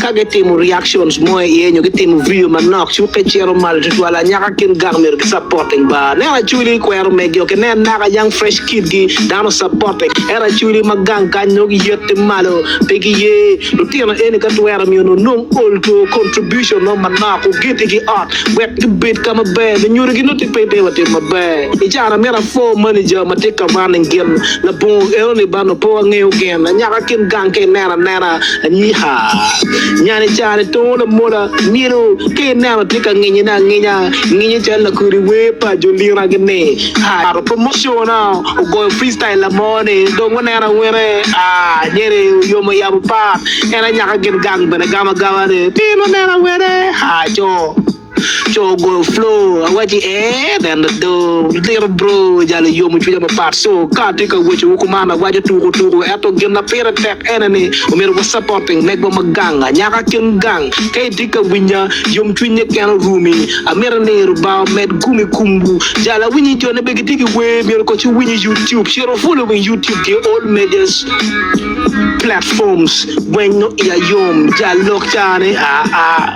Ka gitimo reactions mo i iye nyo gitimo video manok, cukke cito malo tutwal. Anyaka kin gang myero gi supporting ba. Neno Acholi i kwero mege ok inen naka young fresh kid gi dano supporting ento Acholi ma gang kany nongo gi yette malo pe gi ye lutino eni ka twero miyo nongo nong olto contribution mo manok ogiti gi ot wek gi bed ka ma ber me nyuto gi nongo tye piny pe wa timo maber. I caro na myero afor manager ma tye ka running gin labongo eno ni ba nongo pe wa ngeyo gin. Anyaka kin gang ka ineno anena. Anika nyan i caro-ni tongo lamola myero ka ineno tye ka nginyone anginya, nginye calo lakodi wer pa jo Liragi ni, Aa, promotion-na ogoyo freestyle lamone dong wuneno awene, aa, nyeri oyomo oyabo part, en anyaka gin gang bene gamo agama ni, Piny wuneno awene, aa, co. Co ogoyo flow awaci ee neno do liro bro jalo yomo cwinya mapat so ka atye ka weco wo kuman awaco tuku tuku eto gin ma pire tek ene ni omyero wa supporting megwa ma gang anyaka kin gang ka itye ka winya yom cwiny niken orumi amito ni rubanga omed gum i kumwu jalo awinyi jo ne be gitye ki wer myero koc iwiny i youtube cito i follow wing youtube ki all medias platforms gwenyo iya yom jal lok cani aa